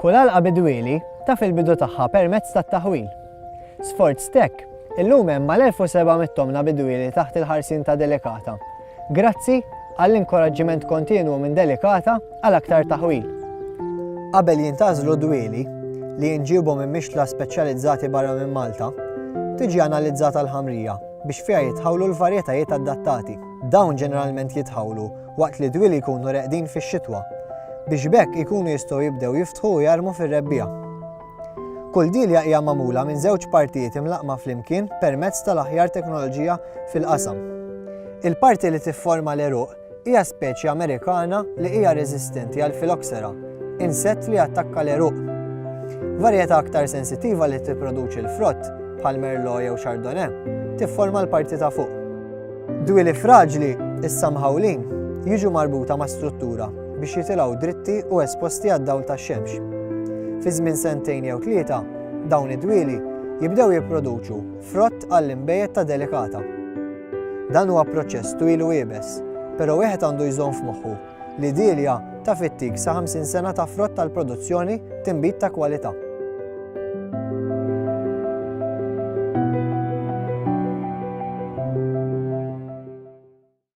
Kull għalqa bidwieli taf il-bidu tagħha permezz tat-taħwil. Sforz tek, illum hemm mal-1700 tomna bidwieli taħt il-ħarsin ta' Delikata. Grazzi għall-inkoraġġiment kontinwu minn Delikata għal aktar taħwil. Qabel jintażlu dwieli li jinġibu minn mixtla speċjalizzati barra minn Malta, tiġi analizzata l-ħamrija biex fiha jitħawlu l-varjetajiet adattati. Dawn ġeneralment jitħawlu waqt li dwieli jkunu reqdin fix-xitwa, biex b'hekk ikunu jistgħu jibdew jiftħu u jarmu fir-rebbiegħa. Kull dielja hija magħmula minn żewġ partijiet imlaqqma flimkien permezz tal-aħjar teknoloġija fil-qasam. Il-parti li tifforma l-għeruq Hija speċi Amerikana li hija reżistenti għal Phylloxera, insett li jattakka l-għeruq. Varjetà aktar sensittiva li tipproduċi l-frott, bħal Merlot jew Chardonnay, tifforma l-parti ta' fuq. Dwieli fraġli, issa mħawlin, jiġu marbuta ma' struttura biex jitilgħu dritti u esposti għad-dawl tax-xemx. Fi żmien sentejn jew tlieta, dawn id-dwieli jibdew jipproduċu Frott għall-inbejjed ta' Delicata. Dan huwa proċess twil u iebes, pero' wieħed għandu jżomm f'moħħu li Delia taf ittik sa 50 sena ta' frott għall-produzzjoni tinbid ta' kwalità.